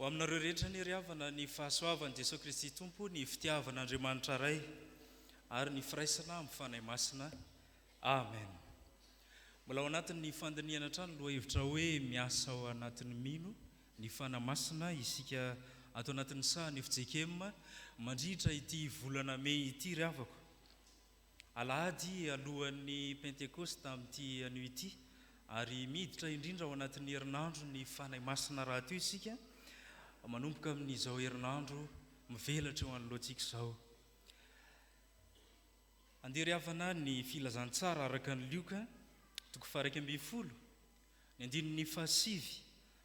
Ho aminareo rehetra anie ry havana ny fahasoavan'i Jesoa Kristy Tompo, ny fitiavan'Andriamanitra Ray ary ny firaisana amin'ny Fanahy Masina. Amen. Mbola ao anatin'ny fandinihana hatrany ny lohahevitra hoe miasa ao anatin'ny mino. ny Fanahy Masina, isika ato anatin'ny sahan'ny fjkm mandritra ity volana mey ity ry havako. Alahady alohan'ny Pentekosta amin'ity anio ity, ary miditra indrindra ao anatin'ny herinandron'ny Fanahy Masina rahateo isika, manomboka amin'izao herinandro mivelatra eo anoloantsika izao. Andeha ry havana ny Filazantsara araka an'i Lioka, toko faha iraika ambin'ny folo, Ny andininy fahasivy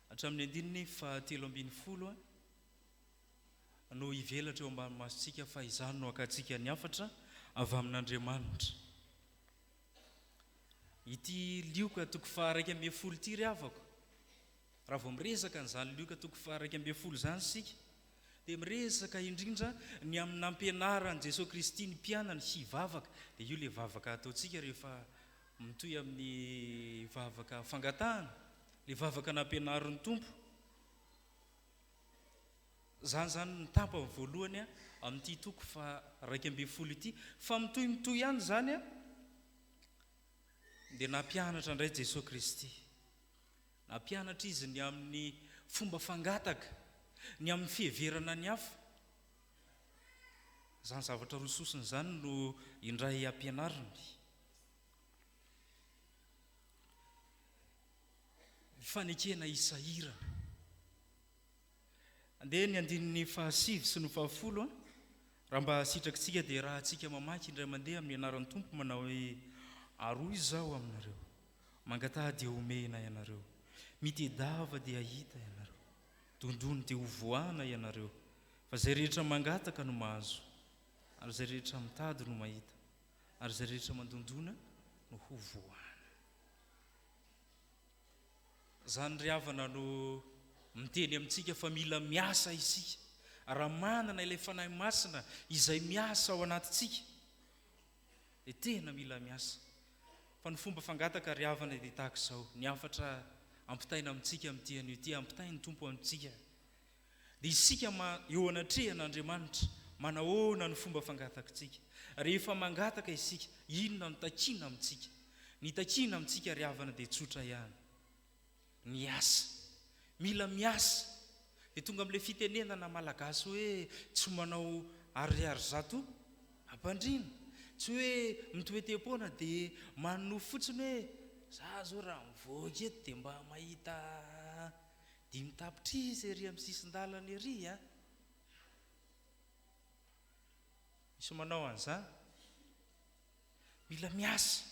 hatramin'ny andininy fahatelo ambin'ny folo no hivelatra eo ambany masontsika fa izany no hakantsika ny hafatra avy amin'Andriamanitra. Ity lioka toko faharaika ambin'ny folo ity ry havako, raha vao miresaka an'izany lioka toko faharaika ambin'ny folo izany isika dia miresaka indrindra ny amin'ny nampianaran'i Jesoa Kristy ny mpianany hivavaka, dia io ilay vavaka ataontsika rehefa Mitohy amin'ny vavaka fangatahana, ilay vavaka nampianarin'ny Tompo. Izany izany ny tapany voalohany amin'ity toko faha-iraika ambin'ny folo ity. Fa mitohy mitohy ihany izany dia nampianatra indray Jesoa Kristy. Nampianatra Izy ny amin'ny fomba fangataka, ny amin'ny fiheverana ny hafa. Izany zavatra roa sosona izany no indray ampianariny. Ny fanekena hisahirana. Andeha ny andininy fahasivy sy ny fahafolo an! Raha mba hahasitraky tsika dia rahatsika mamaky indray mandeha amin'ny anaran'ny Tompo manao hoe, Aroa izaho aminareo, mangataha dia homena ianareo, mitedava dia hahita ianareo, dondony dia hovoahana ianareo, fa izay rehetra mangataka no mahazo, ary izay rehetra mitady no mahita. ary izay rehetra mandondona no ho voahana. Izany ry havana no miteny amintsika fa mila miasa isika. Raha manana ilay Fanahy Masina izay miasa ao anatintsika dia tena mila miasa. Fa ny fomba fangataka ry havana dia tahaka izao, ny hafatra ampitaina amintsika amin'ity anio ity, ampitain'ny Tompo amintsika. Dia isika ma eo anatrehan' Andriamanitra, manahoana no fomba fangatakintsika? Rehefa mangataka isika, inona no takiana amintsika? Ny takiana amintsika ry havana dia tsotra ihany. Ny asa. Mila miasa. Dia tonga amin'ilay fitenenana malagasy hoe tsy manao ariary zato ampandriana. Tsy hoe mitoetem-poana dia manonofy fotsiny hoe za zao raha mivoaka eto dia mba mahita Dimy tapitrisa ery amin'ny sisin-dalana ery a! Misy manao an'izany? Mila miasa.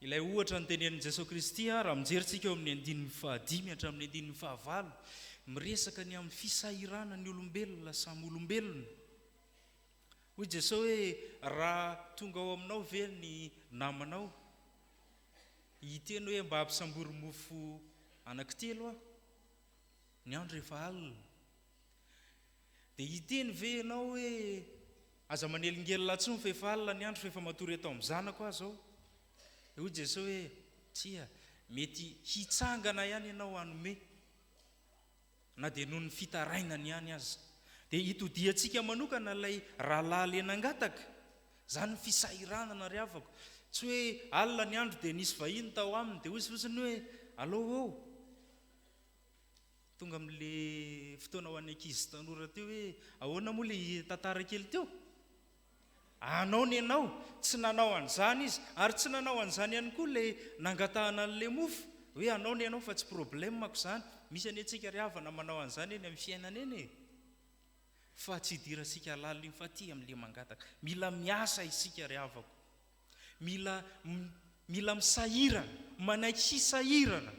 Ilay ohatra notenenin'i Jesoa Kristy, raha mijery tsika eo amin'ny andininy fahadimy hatramin'ny andininy fahavalo, miresaka ny amin'ny fisahiranan'ny olombelona samy olombelona. Hoy Jesoa hoe, Raha tonga ao aminao ve ny namanao? Hiteny hoe mba ampisambory mofo anankitelo aho, ny andro efa alina. Dia hiteny ve ianao hoe aza manelingelina intsony fa efa alina ny andro fa efa matory eto amin'ny zanako aho izao? Dia hoy Jesoa hoe tsia, mety hitsangana ihany ianao hanome. na dia noho ny fitarainany ihany aza, dia itodihantsika manokana ilay rahalahy le nangataka, izany ny fisahiranana ry havako, tsy hoe alina ny andro dia nisy vahiny tao aminy dia hoy fotsiny hoe allo ô, tonga amin'le fotoana ho an'ny ankizy sy tanora teo hoe ahoana moa le tantara kely teo? Anao ny anao, tsy nanao an'izany izy, ary tsy nanao an'izany ihany koa ilay nangatahana an'ilay mofo, hoe anao ny anao fa tsy problème-ko izany, misy anie antsika ry havana manao an'izany eny amin'ny fiainana eny e! fa tsy idirantsika lalina io fa aty amin'ilay mangataka, mila miasa isika ry havako, mila mila misahirana, manaiky hisahirana.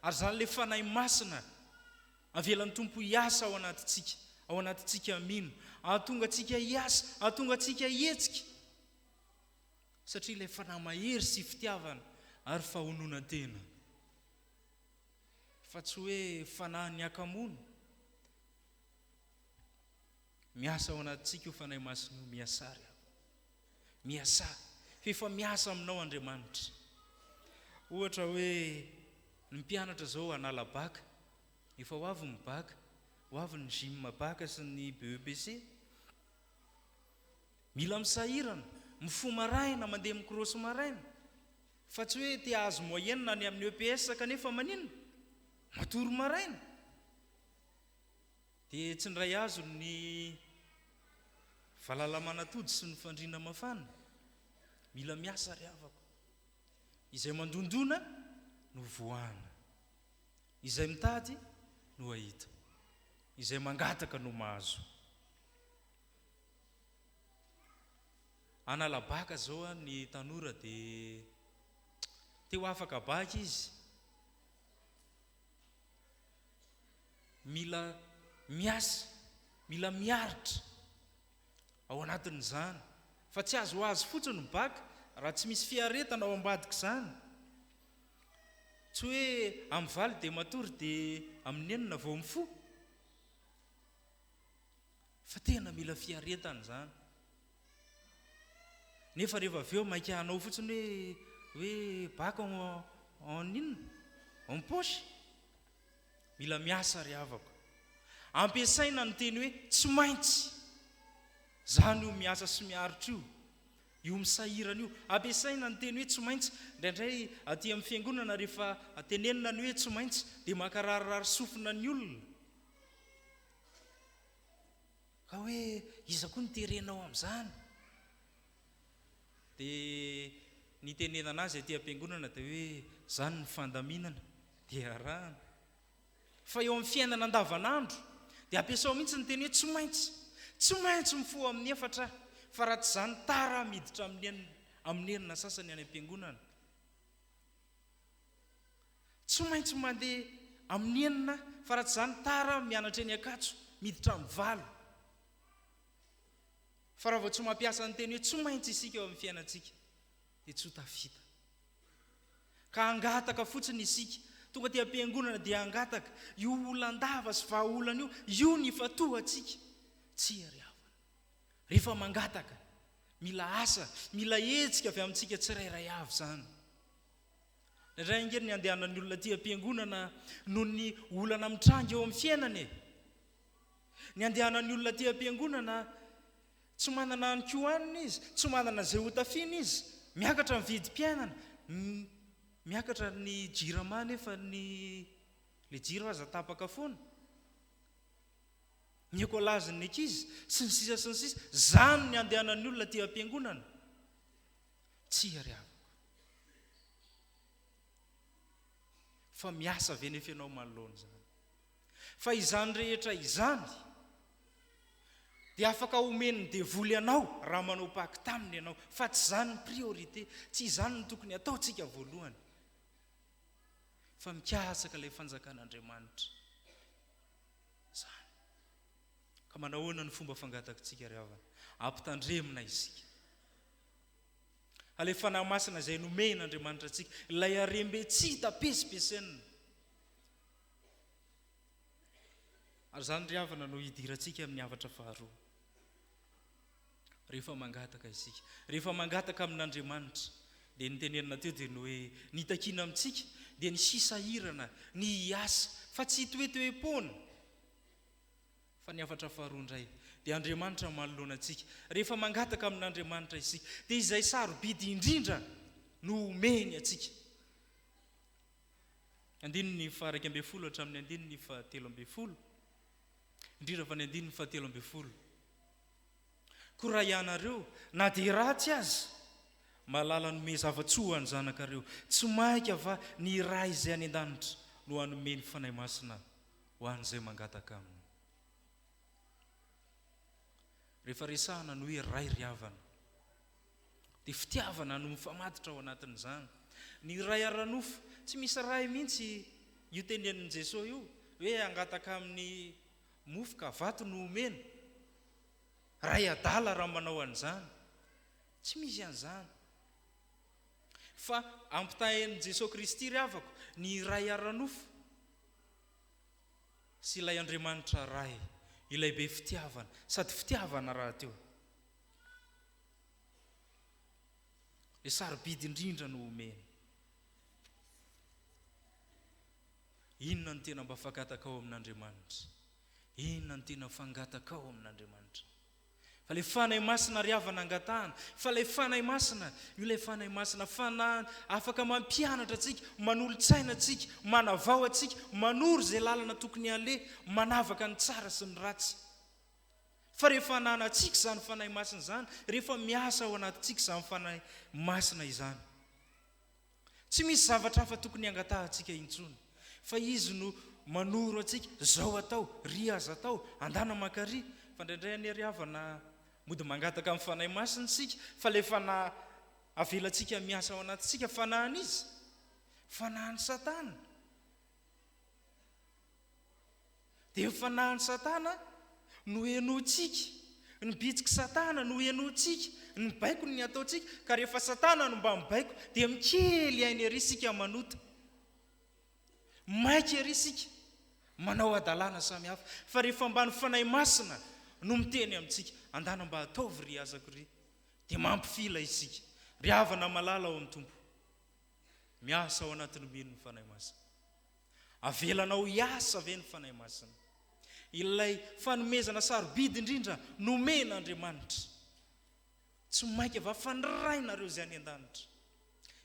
Ary izany ilay Fanahy Masina avelan'ny Tompo hiasa ao anatintsika, ao anatintsika mino, hahatonga antsika hiasa, hahatonga antsika hihetsika. Satria ilay Fanahy mahery sy fitiavana ary fahononan-tena. Fa tsy hoe fanahin'ny hakamoana. Miasa ao anatintsika io Fanahy Masina io, miasà ry havana. Miasà, fa efa miasa aminao Andriamanitra. Ohatra hoe ny mpianatra izao hanala baka, efa ho avy ny baka, ho avy ny gym baka sy ny BEPC. Mila misahirana, mifoha maraina, mandeha mikrôsy maraina, fa tsy hoe te hahazo moyenne any amin'ny EPS kanefa maninona? Matory maraina. Dia tsy niray azony ny valalamanatody sy ny fandriana mafana. Mila miasa ry havako. Izay mandondona no voahana. Izay mitady no hahita. Izay mangataka no mahazo. Analabaka izao ny tanora dia te ho afaka baka izy. Mila miasa, mila miaritra ao anatin'izany fa tsy azo ho azy fotsiny ny bac raha tsy misy fiaretana ao ambadik'izany. Tsy hoe amin'ny valo dia matory dia amin'ny enina vao mifoha fa tena mila fiaretana izany. Nefa rehefa avy eo maika hanao fotsiny hoe hoe bac en en inona? En poche? Mila miasa ry havako. Ampiasaina ny teny hoe tsy maintsy. Zany io miasa sy miaritra io, io misahirana io. Ampiasaina ny teny hoe tsy maintsy. Indraindray aty amin'ny fiangonana rehefa tenenina ny hoe tsy maintsy dia maka rarirary sofina ny olona. Ka hoe iza koa no terenao amin'izany? Dia nitenenana azy aty am-piangonana dia hoe izany ny fandaminana dia arahana. Fa eo amin'ny fiainana andavanandro dia ampiasao mihitsy ny teny hoe tsy maintsy. Tsy maintsy mifoha amin'ny efatra aho fa raha tsy izany tara aho miditra amin'ny amin'ny enina sasany any am-piangonana. Tsy maintsy mandeha amin'ny enina fa raha tsy izany tara mianatra eny Ankatso, miditra amin'ny valo. Fa raha vao tsy mampiasa ny teny hoe tsy maintsy isika eo amin'ny fiainantsika dia tsy ho tafita. Ka hangataka fotsiny isika, tonga aty am-piangonana dia hangataka io olan-dava sy vahaolana io, io ny ifantohantsika, tsy iariavana. Rehefa mangataka, mila asa, mila hetsika avy amintsika tsirairay avy izany. Indraindray ange ny andehanan'ny olona aty am-piangonana noho ny olana mitranga eo amin'ny fiainana e. Ny andehanan'ny olona aty am-piangonana, tsy manana ny ko hanina izy, tsy manana izay hotafiana izy, miakatra ny vidim-piainana, miakatra ny jirama nefa ny ilay jiro aza tapaka foana. ny écolage ny ankizy sy ny sisa sy ny sisa zany ny andehanan'ny olona aty ampiangonana tsia ry havako fa miasa ve nefa ianao manoloana izany fa izany rehetra izany dia afaka omen'ny devoly anao raha manao paky taminy ianao fa tsy izany ny priorité tsy izany ny tokony ataontsika voalohany fa mikatsaka ilay fanjakan'andriamanitra izany. Ka manahoana ny fomba fangatakintsika ry havana? Ampitandremina isika. Ilay Fanahy Masina izay nomehin' Andriamanitra antsika, ilay harem-be tsy hita pesipesenina. Ary izany ry havana no hidirantsika amin'ny havatra faharoa. Rehefa mangataka isika, rehefa mangataka amin'Andriamanitra, dia ny tenenina teo dia ny hoe ny itakiana amintsika dia ny hisahirana, ny hiasa, fa tsy hitoetoe-poana. Fa ny hafatra faharoa indray dia Andriamanitra no manoloana antsika. Rehefa mangataka amin'Andriamanitra isika, dia izay sarobidy indrindra no homeny antsika. Andininy faha-iraika ambin'ny folo hatramin'ny andininy fahatelo ambin'ny folo, indrindra fa ny andininy fahatelo ambin'ny folo. Koa raha ianareo, na dia ratsy aza, mahalala hanome zava-tsoa ho an'ny zanakareo, tsy mainka va ny Ray izay any an-danitra no hanome ny Fanahy Masina ho an'izay mangataka Aminy? Rehefa resahana ny hoe Ray ry havana, dia fitiavana no mifamatotra ao anatin'izany. Ny Ray ara-nofo, tsy misy Ray mihitsy io tenenin'i Jesosy io hoe hangataka amin'ny. Mofo ka vato no omena? Ray adala raha manao an'izany. Tsy misy an'izany. Fa ampitahain'i Jesoa Kristy ry havako ny Ray ara-nofo sy ilay Andriamanitra Ray, ilay be fitiavana, sady fitiavana rahateo. Ilay sarobidy indrindra no omena. Inona no tena mba fangatakao amin'Andriamanitra? Inona no tena fangatakao amin'Andriamanitra? Fa ilay Fanahy Masina ry havana angatahana, fa ilay Fanahy Masina, io ilay Fanahy Masina, Fanahy afaka mampianatra antsika, manolo-tsaina antsika, manavao antsika, manoro izay lalana tokony haleha, manavaka ny tsara sy ny ratsy. Fa rehefa ananantsika izany Fanahy Masina izany, rehefa miasa ao anatintsika izany Fanahy Masina izany, Tsy misy zavatra hafa tokony hangatahantsika intsony fa Izy no manoro antsika, zao atao, ry aza atao, andana mankaria, fa ndraindray anie ry havana mody mangataka amin'ny Fanahy Masina isika fa ilay fanahy avelantsika miasa ao anatintsika fanahin'iza? Fanahin'i Satana. Dia ny fanahin'i Satana no henointsika, ny bitsik'i Satana no henointsika, ny baikony ny ataontsika, ka rehefa Satana no mba mibaiko dia mikely aina ery isika manota, maika ery isika manao hadalana samy hafa, fa rehefa mba ny Fanahy Masina no miteny amintsika, andana mba ataovy ry azako ry, dia mampifila isika. Ry havana malala ao amin'ny Tompo, miasa ao anatin'ny mino ny Fanahy Masina. Avelanao hiasa ve ny Fanahy Masina? Ilay fanomezana sarobidy indrindra nomen' Andriamanitra. Tsy mainka va fanirahinareo Izay any an-danitra?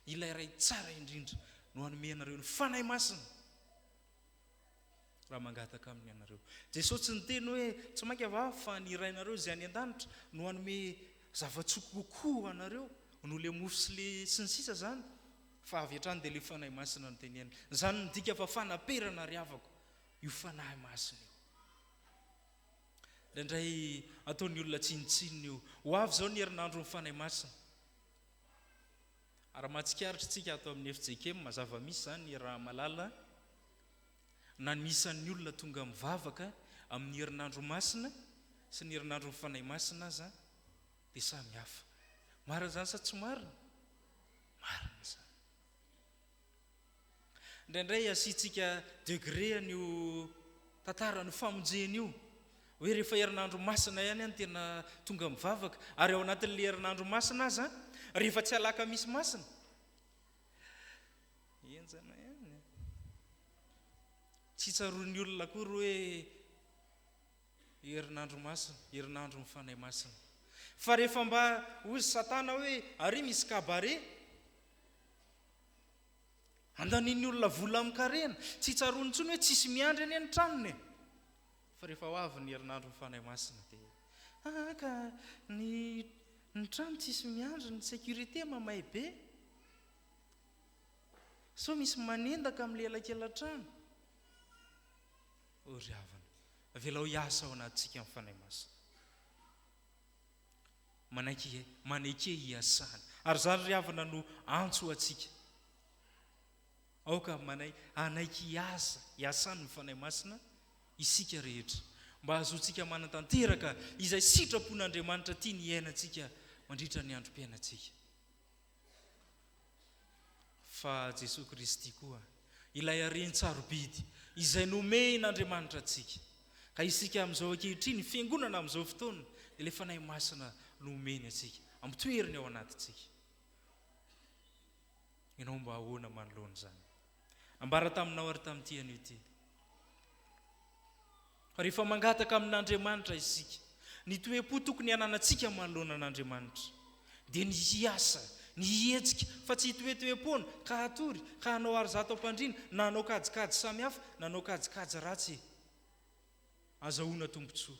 Ilay Ray tsara indrindra no hanome anareo ny Fanahy Masina raha mangataka Aminy ianareo. Jesosy tsy niteny hoe, Tsy mainka va fanirahinareo Izay any an-danitra no hanome zava-tsoa kokoa ho anareo, noho ilay mofo sy ny sisa izany? Fa avy hatrany dia ilay Fanahy Masina no tenenina. Izany midika fa fanaperana ry havako io Fanahy Masina io. Indraindray ataon'ny olona tsinontsinona io. Ho avy izao ny herinandron'ny Fanahy Masina. Ary mahatsikaritra isika ato amin'ny FJKM, zava-misy izany raha malala, na ny isan'ny olona tonga mivavaka amin'ny herinandro masina sy ny herinandron'ny Fanahy Masina aza Dia samy hafa. Marina izany sa tsy marina? Marina izany. Indraindray asiantsika degré an'io tantaran'io famonjena io, hoe rehefa herinandro masina ihany no tena tonga mivavaka, ary ao anatin'ilay herinandro masina aza, rehefa tsy alakamisy masina, henjana ihany e! Tsy tsaroan'ny olona akory hoe Herinandro masina, herinandron'ny Fanahy Masina. Fa rehefa mba hozy Satana hoe, ary misy cabaret? Andanian'ny olona vola amin-karena. Tsy tsaroany intsony hoe tsisy miandry anie ny tranony e! Fa rehefa ho avy ny herinandron'ny Fanahy Masina dia, ah ka ny ny trano tsisy miandry, ny sécurité mamay be. Sao misy manendaka amin'ny elakela-trano? O ry havana, avelao hiasa ao anatintsika ny Fanahy Masina. Manaiky maneke hiasany. Ary izany ry havana no antso ho antsika. Aoka manaiky hanaiky hiasa, hiasany ny Fanahy Masina isika rehetra mba hahazoantsika manatanteraka izay sitrapon'Andriamanitra tiany hiainantsika mandritra ny androm-piainantsika. fa Jesoa Kristy koa ilay Hareny tsarobidy izay nomehin' Andriamanitra antsika. Ka isika amin'izao ankehitriny, ny Fiangonana amin'izao fotoana, dia ilay Fanahy Masina nomeny antsika, amitoeriny ao anatintsika. Ianao mba ahoana manoloana izany? Nambara taminao ary tamin'ity anio ity, fa rehefa mangataka amin'Andriamanitra isika, ny toe-po tokony hananantsika manoloana an'Andriamanitra, dia ny hiasa, ny hihetsika, fa tsy hitoetoe-poana, ka hatory, ka hanao aro zato am-pandriana, na hanao kajikajy samihafa, na hanao kajikajy ratsy e! Azahoana tombontsoa.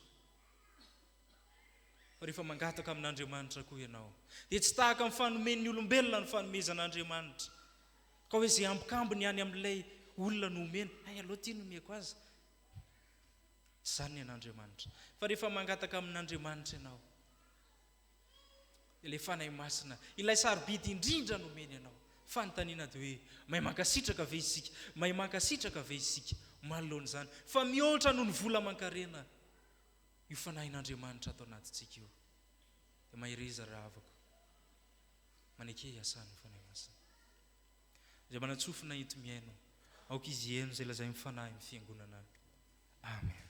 Fa rehefa mangataka amin'Andriamanitra koa ianao, dia tsy tahaka ny fanomen'ny olombelona ny fanomezan'Andriamanitra, Ka hoe izay ambikambiny any amin'ilay olona no omena, hay aloha ity no omeko azy. Tsy izany ny an'Andriamanitra. Fa rehefa mangataka amin'Andriamanitra ianao, dia ilay Fanahy Masina, ilay sarobidy indrindra no omeny anao. Fanontaniana dia hoe, mahay mankasitraka ve isika? Mahay mankasitraka ve isika manoloana izany fa mihoatra noho ny vola aman-karena io Fanahin'Andriamanitra ato anatintsika io? Dia mahereza ry havako. Maneke hiasan'ny Fanahy Masina. Izay manan-tsofina enti-mihaino, aoka izy hihaino izay lazain'ny Fanahy ny Fiangonana. Amen.